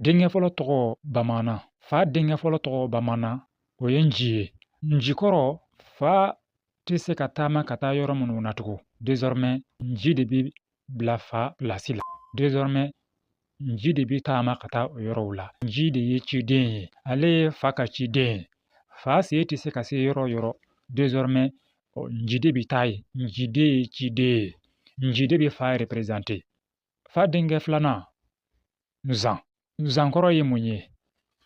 Denkɛ fɔlɔ tɔgɔ bamanan fa denkɛ fɔlɔ tɔgɔ bamanan o ye nci ye nci kɔrɔ fa tɛ se ka taama ka taa yɔrɔ minnu na tugun désormais nci de bɛ bila fa place la désormais nci de bɛ taama ka taa o yɔrɔw la nci de ye ciden ye ale ye fa ka ciden ye fa sen tɛ se ka se yɔrɔ o yɔrɔ désormais nci de bɛ taa yen nci de ye ciden ye nci de bɛ fa représenter fa denkɛ filanan nzan nzan kɔrɔ ye mun ye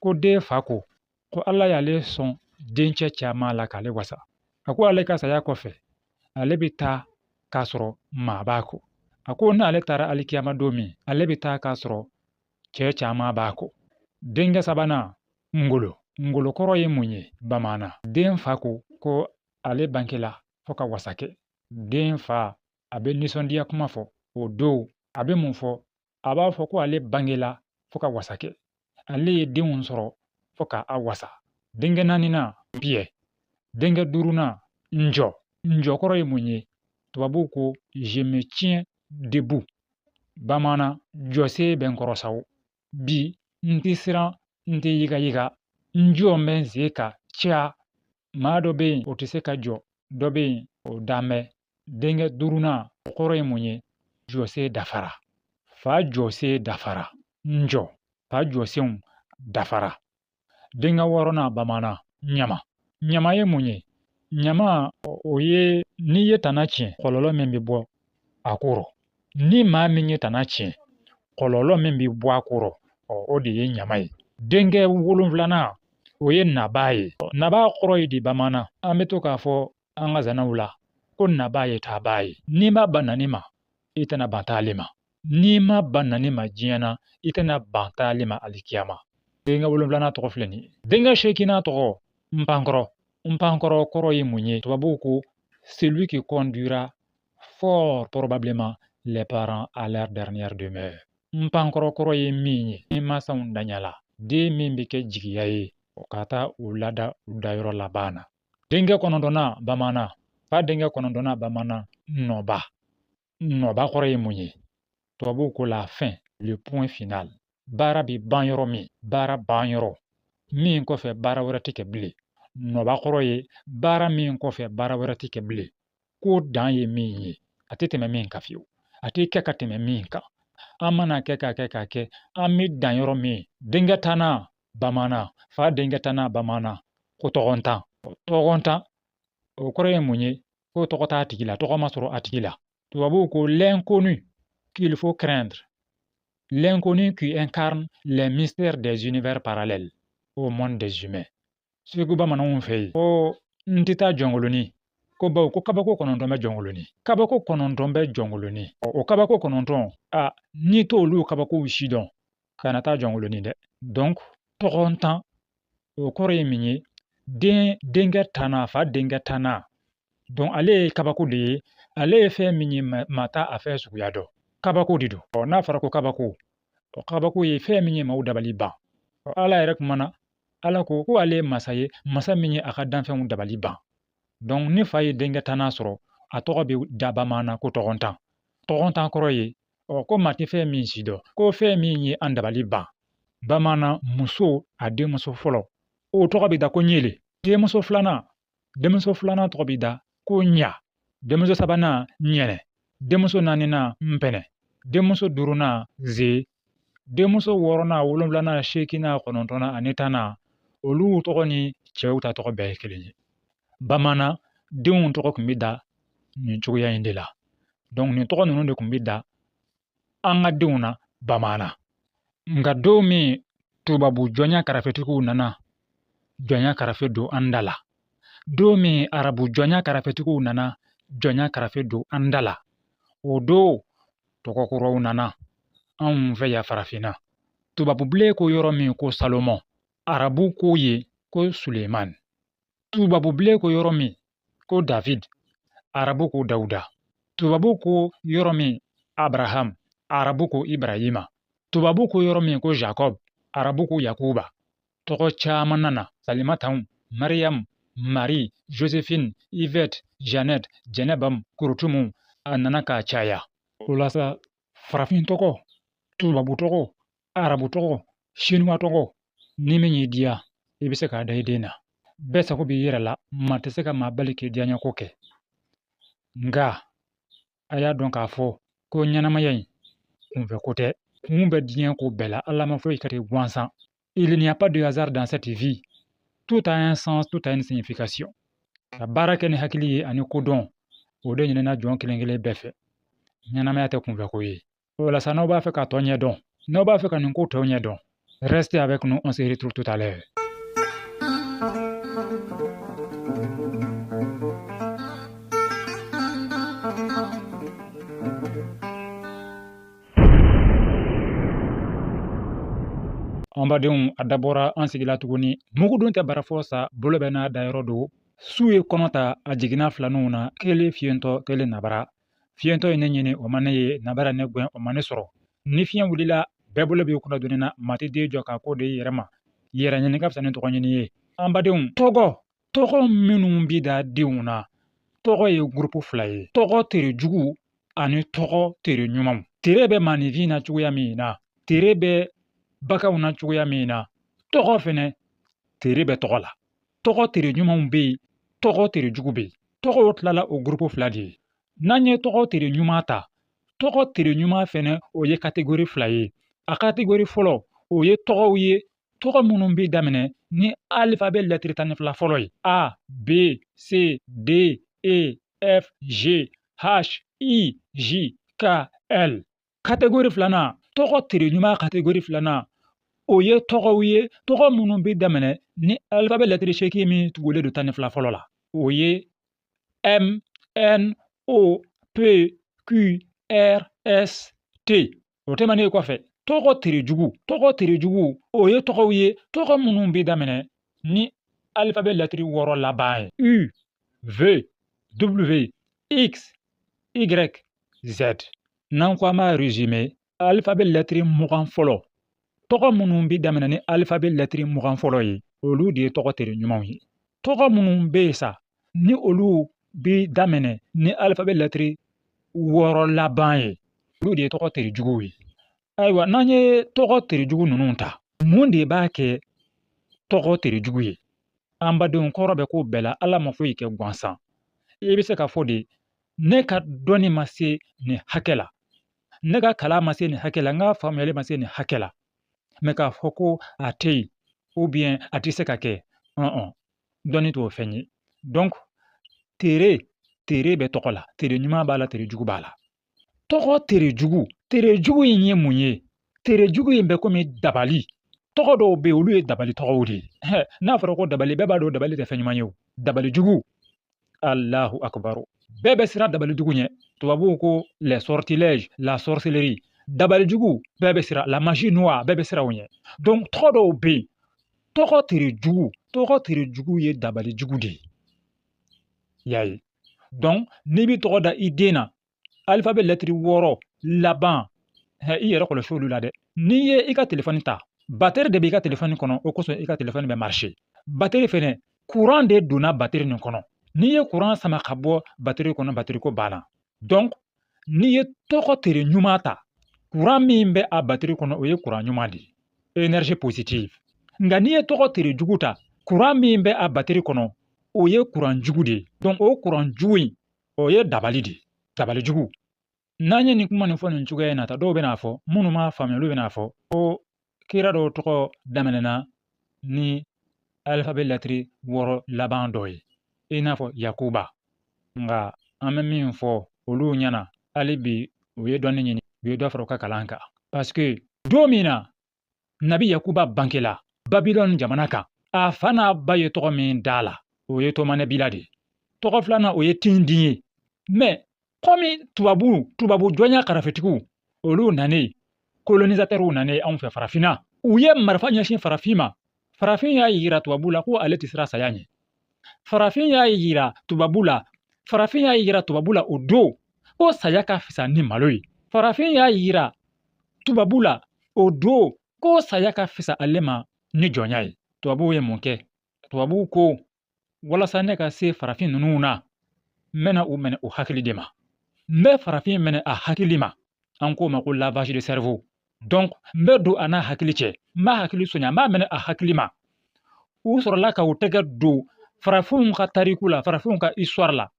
ko den fa ko ko ala y'ale sɔn dencɛ caman la k'ale wasa a ko ale ka saya kɔfɛ ale bɛ taa k'a sɔrɔ maa b'a kɔ a ko n'ale taara alikiyama don min ale bɛ taa k'a sɔrɔ cɛ caman b'a kɔ denkɛ sabanan ngolo ngolo kɔrɔ ye mun ye bamanan den fa ko ko ale bangela fo ka wasa kɛ den fa a bɛ nisɔndiya kuma fɔ o don a bɛ mun fɔ a b'a fɔ ko ale bangela fo ka wasa kɛ ale ye denw sɔrɔ fo ka a wasa denkɛ naaninan piyɛ denkɛ duurunan njɔ njɔ kɔrɔ ye mun ye tubabuw ko je me tiens debout bamanan jɔsen bɛ n kɔrɔ sa o bi n tɛ siran n tɛ yigayiga n jɔlen bɛ n sen kan ca maa dɔ bɛ yen o tɛ se ka jɔ dɔ bɛ yen o dan bɛ denkɛ duurunan o kɔrɔ ye mun ye jɔsen dafara fa jɔsen dafara njɔ fa jɔsenw dafara denkɛ wɔɔrɔnan bamanan ɲama ɲama ye mun ye ɲama o ye n'i ye tana tiɲɛ kɔlɔlɔ min bɛ bɔ a kɔrɔ ni maa min ye tana tiɲɛ kɔlɔlɔ min bɛ bɔ a kɔrɔ o de ye ɲama ye denkɛ wolonfilanan o ye naba ye naba kɔrɔ ye di bamanan an bɛ to k'a fɔ an ka zanaw la ko naba ye taaba ye n'i ma ban nani ma i tɛna ban taali ma n'i ma ban nani ma diɲɛ na i tɛna ban taali ma alikiyama denkɛ wolonfilanan tɔgɔ filɛ nin ye denkɛ seekinan tɔgɔ npankɔrɔ npankɔrɔ kɔrɔ ye mun ye tubabuw ko celui qui conduira fort probablement les parents à leur dernière demeure npankɔrɔ kɔrɔ ye min ye ni masaw danyala den min bɛ kɛ jigiya ye o ka taa u lada u dayɔrɔ laban na denkɛ kɔnɔntɔnnan bamanan fa denkɛ kɔnɔntɔnnan bamanan nɔba nɔba kɔrɔ ye mun ye tubabuw ko la fin le point final baara bɛ ban yɔrɔ min baara ban yɔrɔ min kɔfɛ baara wɛrɛ tɛ kɛ bilen nɔba kɔrɔ ye baara min kɔfɛ baara wɛrɛ tɛ kɛ bilen ko dan ye min ye a tɛ tɛmɛ min kan fiyewu a tɛ kɛ ka tɛmɛ min kan an mana kɛ k'a kɛ k'a kɛ an bɛ dan yɔrɔ min denkɛ tannan bamanan fa denkɛ tannan bamanan ko tɔgɔntan tɔgɔntan o kɔrɔ ye mun ye ko tɔgɔ t'a tigi la tɔgɔ ma sɔrɔ a tigi la tubabuw ko l'inconnu qu'il faut craindre l'inconnu qui incarne les mystères des univers parallèles au monde des humains segu bamananw fɛ yen ko n tɛ taa jɔnkolonin ko bawo ko kabako kɔnɔntɔn bɛ jɔnkolonin kabako kɔnɔntɔn bɛ jɔnkolonin o kabako kɔnɔntɔn a n'i t'olu kabakow si dɔn kana taa jɔnkolonin dɛ donc tɔgɔntan o kɔrɔ ye min ye denkɛ tannan fa denkɛ tannan donc ale ye kabako de ye ale ye fɛn min ye maa t'a a fɛn suguya dɔn kabako de don ɔ n'a fɔra ko kabako ɔ kabako ye fɛn min ye maaw dabali ban ɔ ala yɛrɛ kumana ala ko ko ale ye masa ye masa min ye a ka danfɛnw dabali ban ni fa ye denkɛ tannan sɔrɔ a tɔgɔ bɛ da bamanan ko tɔgɔntan tɔgɔntan kɔrɔ ye ɔ ko maa tɛ fɛn min si dɔn ko fɛn min ye an dabali ban bamanan muso a denmuso fɔlɔ o tɔgɔ bɛ da ko ɲele denmuso filanan denmuso filanan tɔgɔ bɛ da ko ɲa denmuso sabanan ɲɛnɛ denmuso naaninan npɛnɛ denmuso duurunan ze denmuso wɔɔrɔnan wolonwulanan seeginnan kɔnɔntɔnnan ani tannan olu tɔgɔ ni cɛw ta tɔgɔ bɛɛ ye kelen ye bamanan denw tɔgɔ tun bɛ da nin cogoya in de la donc nin tɔgɔ ninnu de tun bɛ da an ka denw na bamanan nka don min tubabu jɔnya karafetigiw nana jɔnya karafe don an da la don min arabu jɔnya karafetigiw nana jɔnya karafe don an da la o don tɔgɔ kuraw nana anw fɛ yan farafinna tubabubilen ko yɔrɔ min ko salomon arabu ko yen ko suleman tubabubilen ko yɔrɔ min ko david arabu ko dawuda tubabu ko yɔrɔ min abraham arabu ko ibrahima tubabu ko yɔrɔ min ko jacob arabu ko yakuba tɔgɔ caman nana salimataw mariam marie joséphine yvette jeannette jɛnɛbam kurutumu a nana k'a caya o la sa farafin tɔgɔ tubabu tɔgɔ arabu tɔgɔ sinuwa tɔgɔ ni min y'i diya i bɛ se k'a da i den na bɛɛ sago b'i yɛrɛ la maa tɛ se ka maa bali k'i diyaɲɛko kɛ nka a y'a dɔn k'a fɔ ko ɲɛnamaya in kunfɛ ko tɛ kun bɛ diɲɛ ko bɛɛ la ala ma foyi kɛ ten gansan il n'y a pas de hasard dans cette vie tout a un sens tout a une signification ka baara kɛ ni hakili ye ani kodɔn o de ɲinina jɔn kelen kelen bɛɛ fɛ ɲɛnamaya tɛ kunfɛ ko ye o la sa n'aw b'a fɛ ka tɔ ɲɛ dɔn n'aw b'a fɛ ka nin ko tɔw ɲɛ dɔn restez avec nous on se retrouve tout à l'heure An badenw a dabɔra an sigila tuguni mugudon tɛ barafɔ sa bolo bɛ n'a dayɔrɔ don su ye kɔnɔ ta a jiginna filaninw na kelen fiyentɔ kelen nabara fiyentɔ ye ne ɲini o ma ne ye nabara ne gɛn o ma ne sɔrɔ ni fiɲɛ wulila bɛɛ bolo b'i kunna doni na maa tɛ den jɔ k'a ko de i yɛrɛ ma yɛrɛ ɲini ka fisa ni tɔgɔ ɲini ye an badenw tɔgɔ tɔgɔ minnu bi da denw na tɔgɔ ye gurupu fila ye tɔgɔ tere juguw ani tɔgɔ tere ɲumanw tere bɛ maaninfin na cogoya min na tere bɛ baganw na cogoya min na tɔgɔ fɛnɛ tere bɛ tɔgɔ la tɔgɔ tere ɲumanw bɛ yen tɔgɔ tere jugu bɛ yen tɔgɔw tilala o gurupu fila de ye n'an ye tɔgɔ tere ɲuman ta tɔgɔ tere ɲuman fɛnɛ o ye kategori fila ye a kategori fɔlɔ o ye tɔgɔw ye tɔgɔ minnu bɛ daminɛ ni alifabɛ lɛtiri tan ni fila fɔlɔ ye a b c d e f g h i j k l kategori filanan tɔgɔ tere ɲuman kategori filanan o ye tɔgɔw ye tɔgɔ minnu bɛ daminɛ ni alifabɛ lɛtiri seegin min tugulen don tan ni fila fɔlɔ la o ye m n o p q r s t o tɛmɛnen kɔfɛ tɔgɔ terejugu tɔgɔ terejugu o ye tɔgɔw ye tɔgɔ minnu bɛ daminɛ ni alifabɛ lɛtiri wɔɔrɔ laban ye u v w x y z n'an ko an b'a rezime alifabɛ lɛtiri mugan fɔlɔ tɔgɔ minnu bɛ daminɛ ni alifabɛ lɛtiri mugan fɔlɔ ye olu de ye tɔgɔ tere ɲumanw ye tɔgɔ minnu bɛ yen sa ni olu bɛ daminɛ ni alifabɛ lɛtiri wɔɔrɔ laban ye olu de ye tɔgɔ tere juguw ye ayiwa n'an ye tɔgɔ tere jugu ninnu ta mun de b'a kɛ tɔgɔ tere jugu ye an badenw kɔrɔ bɛ ko bɛɛ la ala ma foyi kɛ gansan i bɛ se k'a fɔ de ne ka dɔnni ma se nin hakɛ la ne ka kalan ma se nin hakɛ la n ka faamuyali ma se nin hakɛ la mɛ k'a fɔ ko a tɛ yen ou bien a tɛ se ka kɛ dɔnni t'o fɛn ye donc tere tere bɛ tɔgɔ la tere ɲuman b'a la tere jugu b'a la tɔgɔ tere jugu tere jugu in ye mun ye tere jugu in bɛ komi dabali tɔgɔ dɔw bɛ yen olu ye dabali tɔgɔw de ye n'a fɔra ko dabali bɛɛ b'a dɔn dabali tɛ fɛn ɲuman ye o dabali jugu Allahu akbar bɛɛ bɛ siran dabali jugu ɲɛ tubabuw ko les sortilèges la sorcellerie dabali jugu bɛɛ bɛ siran la magie noire bɛɛ bɛ siran o ɲɛ donc tɔgɔ dɔw bɛ yen tɔgɔ tere jugu tɔgɔ tere jugu ye dabali jugu de ye y'a ye donc n'i bɛ tɔgɔ da i den na alifabɛ lɛtiri wɔɔrɔ laban hɛ i yɛrɛ kɔlɔsi olu la dɛ n'i ye i ka telefɔni ta batɛri de b'i ka telefɔni kɔnɔ o kosɔn i ka telefɔni bɛ marché batɛri fɛnɛ kuran de donna batɛri nin kɔnɔ n'i ye kuran sama ka bɔ batɛri kɔnɔ batɛri ko banna donc n'i ye tɔgɔ tere ɲuman ta kuran min bɛ a batɛri kɔnɔ o ye kuran ɲuman de ye énergie positive nka n'i ye tɔgɔ tere jugu ta kuran min bɛ a batɛri kɔnɔ o ye kuran jugu de ye donc o kuran jugu in O ye dabali de ye dabali jugu n'an ye nin kuma nin fɔ nin cogoya in na tan dɔw bɛn'a fɔ minnu m'a faamuya olu bɛn'a fɔ ko kira dɔw tɔgɔ daminɛna ni alifabɛ lɛtiri wɔɔrɔ laban dɔ ye i n'a fɔ yakuba nka an bɛ min fɔ olu ɲɛna hali bi u ye dɔnni ɲini u ye dɔ fara u ka kalan kan parce que don min na nabi yakuba bangela babilɔni jamana kan a fa n'a ba ye tɔgɔ min da a la o ye tɔmanɛbila de ye tɔgɔ filanan o ye tindin ye mais kɔmi tubabu tubabu jɔnya karafetigiw olu nanen kolonisatɛriw nanen anw fɛ farafinna u ye marifa ɲɛsin farafin ma farafin y'a yira tubabu la ko ale tɛ siran saya ɲɛ farafin y'a yira tubabu la farafin y'a yira tubabu la o don ko saya ka fisa ni malo ye farafin y'a yira tubabu la o don ko saya ka fisa ale ma ni jɔnya ye tubabuw ye mun kɛ tubabuw ko walasa ne ka se farafin ninnu na n bɛna u minɛ u hakili de ma n bɛ farafin minɛ a hakili ma an k'o ma ko lavage de cerveau donc n bɛ don a n'a hakili cɛ n b'a hakili sonya n b'a minɛ a hakili ma u sɔrɔla ka u tɛgɛ don farafinw ka tariku la farafinw ka histoire la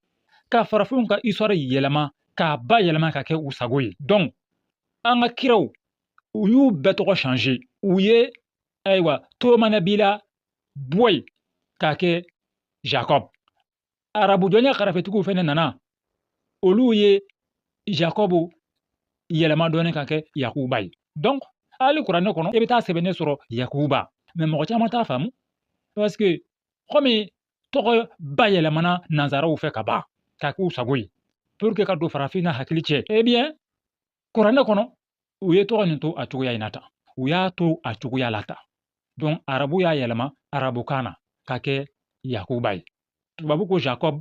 ka farafinw ka histoire yɛlɛma k'a bayɛlɛma k'a kɛ u sago ye donc an ka kiraw u y'u bɛɛ tɔgɔ changer u ye ayiwa tomanabila bɔ yen k'a kɛ jacob arabu jɔnya karafetigiw fɛnɛ nana olu ye jacob yɛlɛma dɔɔni k'a kɛ yakuba ye donc hali kuranɛ kɔnɔ i bɛ taa a sɛbɛnnen sɔrɔ yakuba mais mɔgɔ caman t'a faamu parce que kɔmi tɔgɔ bayɛlɛmana nanzaraw fɛ ka ban k'a k'u sago ye pour que ka don farafin n'a hakili cɛ eh bien kuranɛ kɔnɔ u ye tɔgɔ nin to a cogoya in na tan u y'a to a cogoya la tan donc arabu y'a yɛlɛma arabukan na k'a kɛ yakuba ye tubabu ko jacob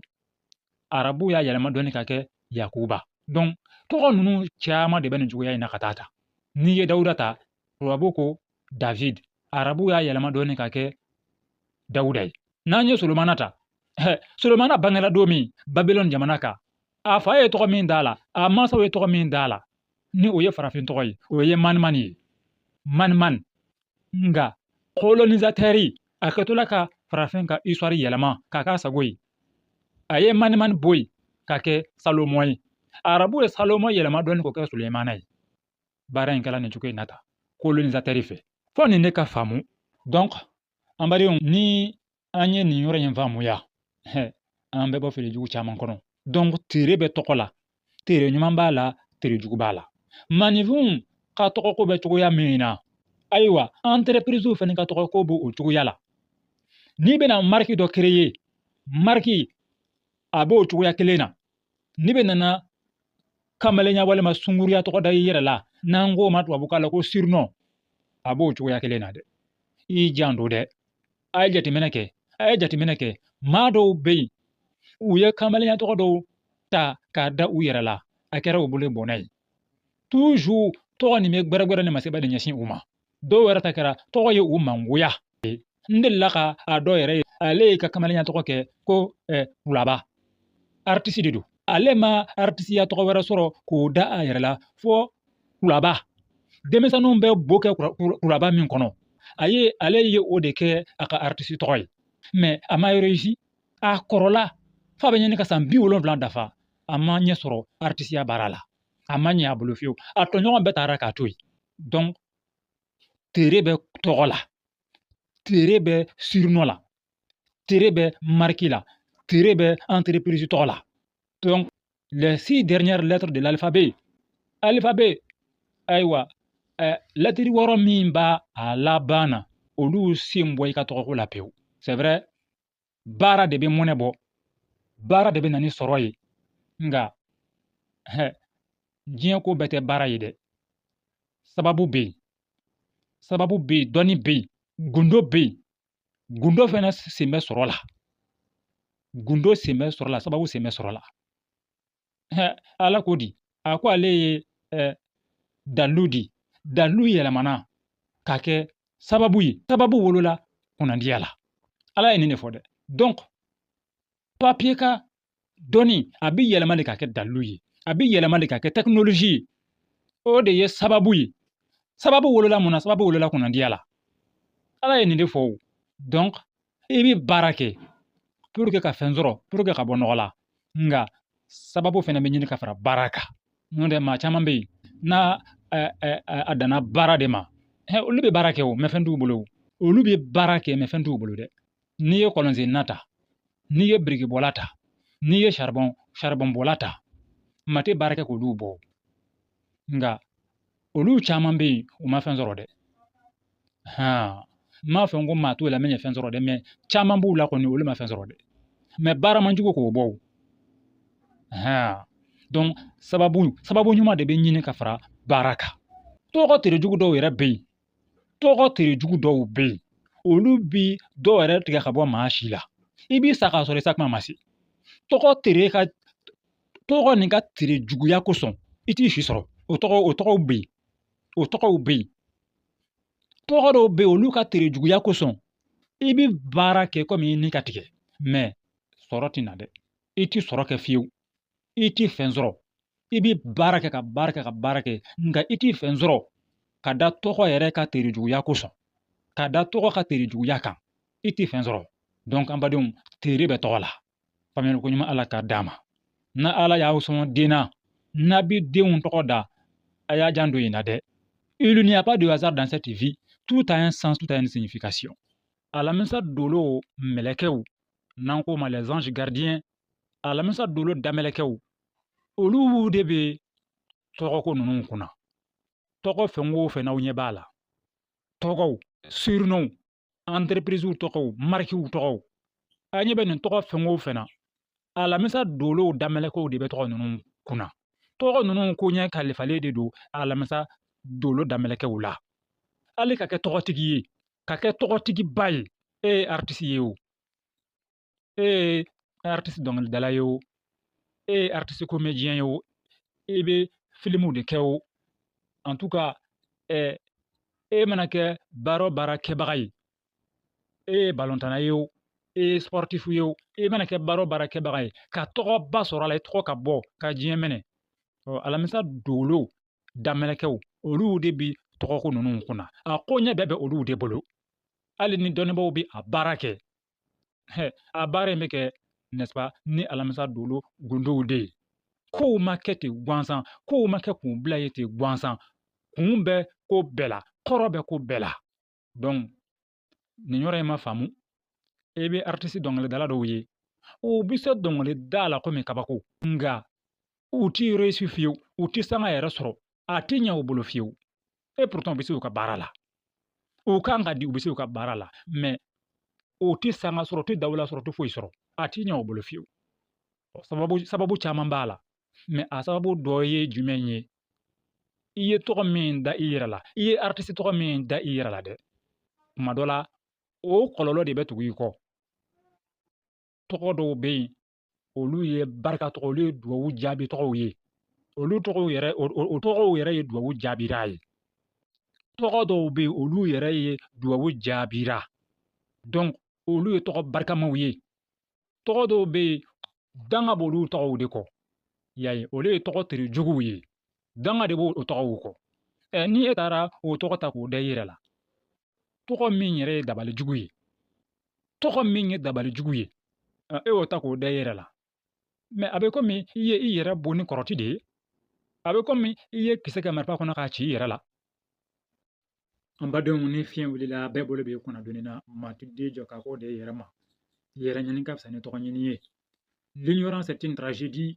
arabu y'a yɛlɛma dɔɔni k'a kɛ yakuba donc tɔgɔ ninnu caman de bɛ nin cogoya in na ka taa ta n'i ye dawuda ta tubabu ko david arabu y'a yɛlɛma dɔɔnin ka kɛ dawuda ye n'an ye solomana ta solomana bangela don min babilɔn jamana kan a fa ye tɔgɔ min d'a la a mansaw ye tɔgɔ min d'a la ni o ye farafin tɔgɔ ye o ye manimani ye manimani nka kolonisatɛri a kɛtɔla ka farafin ka isituwari yɛlɛma k'a k'a sago ye a ye manimani bɔ yen ka kɛ salomɔn ye arabu ye salomɔn yɛlɛma dɔɔni k'o kɛ sulemana ye baara in kɛra nin cogo in na tan kolonizatɛri fɛ fo nin ne ka faamu dɔnk an badenw ni an ye nin yɔrɔ in faamuya an bɛ bɔ fili jugu caman kɔnɔ dɔnk tere bɛ tɔgɔ la tere ɲuman b'a la tere jugu b'a la maaninfinw ka tɔgɔko bɛ cogoya min na ayiwa anterepiriziw fana ka tɔgɔko b'o cogoya la n'i bɛna mariki dɔ kereye mariki a b'o cogoya kelen na n'i bɛ nana kamalenya walima sunguruya tɔgɔ da i yɛrɛ la n'an k'o ma tubabukan la ko sirinɔ a b'o cogoya kelen na dɛ i janto dɛ a ye jateminɛ kɛ a ye jateminɛ kɛ maa dɔw bɛ yen u ye kamalenya tɔgɔ dɔw ta k'a da u yɛrɛ la a kɛra u bolo bɔnɛ ye toujours tɔgɔ nin bɛ gbɛrɛgbɛrɛ ni masiba de ɲɛsin u ma dɔw yɛrɛ ta kɛra tɔgɔ ye u mangoya n delila ka a dɔ yɛrɛ ye ale y'a ka kamalenya tɔgɔ kɛ ko kulaba aritisi de don ale ma aritisiya tɔgɔ wɛrɛ sɔrɔ k'o da a yɛrɛ la fo kulaba denmisɛnninw bɛ bo kɛ kulaba min kɔnɔ a ye ale ye o de kɛ a ka aritisi tɔgɔ ye mɛ a ma réussi a kɔrɔla f'a bɛ ɲini ka san bi wolonwula dafa a ma ɲɛ sɔrɔ aritisiya baara la a ma ɲɛ a bolo fewu a tɔɲɔgɔn bɛɛ taara k'a to yen donc tere bɛ tɔgɔ la tere bɛ sirinɔ la tere bɛ mariki la tere bɛ anterepirizi tɔgɔ la donc les six dernières lettres de l'alphabet alphabet ayiwa ɛ lɛtiri wɔɔrɔ min b'a a laban na olu sen bɔ i ka tɔgɔko la pewu c'est vrai baara de bɛ mɔnɛ bɔ baara de bɛ na ni sɔrɔ ye nka hɛ diɲɛ ko bɛɛ tɛ baara ye dɛ sababu bɛ yen sababu bɛ yen dɔnni bɛ yen gundo bɛ yen gundo fana sen bɛ sɔrɔ la gundo sen bɛ sɔrɔ la sababu sen bɛ sɔrɔ la ala ko di a ko ale ye eh, dalu di dalu yɛlɛmana ka kɛ sababu ye sababu wolola kunnandiya la ala ye nin de fɔ dɛ donc papiye ka dɔnni a bi yɛlɛma de ka kɛ dalu ye a bi yɛlɛma de ka kɛ tɛkinolozi ye o de ye sababu ye sababu wolola mun na sababu wolola kunnandiya la ala ye nin de fɔ o donc i bɛ baara kɛ pour que ka fɛn sɔrɔ pour que ka bɔ nɔgɔ la nka sababu fɛnɛ bɛ ɲini ka fara baara kan n'o tɛ maa caman bɛ yen n'a a danna baara de ma olu bɛ baara kɛ o mɛ fɛn t'u bolo olu bɛ baara kɛ mɛ fɛn t'u bolo dɛ n'i ye kɔlɔnsenna ta n'i ye birikibɔla ta n'i ye saribɔnbɔla ta maa tɛ baara kɛ k'olu bɔ nka olu caman bɛ yen u ma fɛn sɔrɔ dɛ n m'a fɔ ko maa t'u la min ye fɛn sɔrɔ dɛ mɛ caman b'u la kɔni olu ma fɛn sɔrɔ dɛ mɛ baara man jugu k'o bɔ donc sababu ɲuman de bɛ ɲini ka fara baara kan tɔgɔ tere jugu dɔw yɛrɛ bɛ yen tɔgɔ tere jugu dɔw bɛ yen olu bi dɔ yɛrɛ tigɛ ka bɔ maa si la i bi sa k'a sɔrɔ i sa kuma ma se tɔgɔ tere ka tɔgɔ nin ka tere juguya kosɔn i ti si sɔrɔ o tɔgɔ o tɔgɔw bɛ yen o tɔgɔw bɛ yen tɔgɔ dɔw bɛ yen olu ka tere juguya kosɔn i bɛ baara kɛ komi i ni ka tigɛ mɛ sɔrɔ tɛ na dɛ i tɛ sɔrɔ kɛ fiyewu i tɛ fɛn sɔrɔ i bɛ baara kɛ ka baara kɛ ka baara kɛ nka i tɛ fɛn sɔrɔ ka da tɔgɔ yɛrɛ ka tere juguya kosɔn ka da tɔgɔ ka tere juguya kan i tɛ fɛn sɔrɔ donc an badenw tere bɛ tɔgɔ la faamuyali koɲuman ala k'a d'a ma n'ala y'aw sɔn den na n'a bɛ denw tɔgɔ da a y'a janto nin na dɛ il n'y a pas de hasard dans cette vie tout a un sens tout a une signification alamisa dolo mɛlɛkɛw n'an k'o ma les anges gardiens alamisa dolo damɛlɛkɛw olu de bɛ tɔgɔko ninnu kunna tɔgɔ fɛn o fɛn n'aw ɲɛ b'a la tɔgɔw surnoms entreprise tɔgɔw marikiw tɔgɔw a ɲɛ bɛ nin tɔgɔ fɛn o fɛn na alamisa dolow damɛlɛkɛw de bɛ tɔgɔ ninnu kunna tɔgɔ ninnu koɲɛ kalifalen de don alamisa dolo damɛlɛkɛw la hali ka kɛ tɔgɔtigi ye ka kɛ tɔgɔtigiba ye e ye artiste ye o e ye artiste dɔnkilidala ye o e ye artiste comédien ye o i bɛ filimuw de kɛ o en tout cas ɛ e mana kɛ baara o baara kɛbaga ye e ye balontanna ye o e ye sportif ye o e mana kɛ baara o baara kɛbaga ye ka tɔgɔba sɔrɔ a la i tɔgɔ ka bɔ ka diɲɛ minɛ ɔ alamisa dolo damɛlɛkɛw olu de bi tɔgɔko ninnu kunna a koɲɛ bɛɛ bɛ olu de bolo hali ni dɔnnibaaw bɛ a baara kɛ a baara in bɛ kɛ n'est-ce pas ni alamisa dolo gundow de ye kow ma kɛ ten gansan kow ma kɛ k'u bila yen ten gansan kun bɛ ko bɛɛ la kɔrɔ bɛ ko bɛɛ la donc ni yɔrɔ in ma faamu e bɛ artiste dɔnkilidala dɔw ye u bɛ se dɔnkilida la komi kabako nka u ti réussi fiyewu u ti sanga yɛrɛ sɔrɔ a ti ɲɛ u bolo fiyewu et pourtant u bɛ se u ka baara la u kan ka di u bɛ se u ka baara la mais u ti sanga sɔrɔ u ti dawula sɔrɔ u ti foyi sɔrɔ a ti ɲɛ u bolo fiyewu sababu caman b'a la mais a sababu dɔ ye jumɛn ye i ye tɔgɔ min da i yɛrɛ la i ye artiste tɔgɔ min da i yɛrɛ la dɛ kuma dɔ la o kɔlɔlɔ de bɛ tugu i kɔ tɔgɔ dɔw bɛ yen olu ye barika tɔgɔ olu ye duwawu jaabi tɔgɔw ye olu tɔgɔw yɛrɛ o tɔgɔw yɛrɛ ye duwawu jaabira ye tɔgɔ dɔw bɛ yen olu yɛrɛ ye duwawu jaabira donc olu ye tɔgɔ barikamaw ye tɔgɔ dɔw bɛ yen danga b'olu tɔgɔw de kɔ y'a ye olu ye tɔgɔ terejuguw ye danga de b'o tɔgɔw kɔ ni e taara o tɔgɔ ta k'o da i yɛrɛ la tɔgɔ min yɛrɛ ye dabalijugu ye tɔgɔ min ye dabalijugu ye e y'o ta k'o da i yɛrɛ la mais a bɛ komi i ye i yɛrɛ bon ni kɔrɔti de ye a bɛ komi i ye kisɛ kɛ marifa kɔnɔ k'a ci i yɛrɛ la an badenw ni fiɲɛ wulila bɛɛ bolo b'i kunna doni na maa ti den jɔ k'a ko de yɛrɛ ma yɛrɛ ɲini ka fisa ni tɔgɔ ɲini ye l'ignorance est une tragédie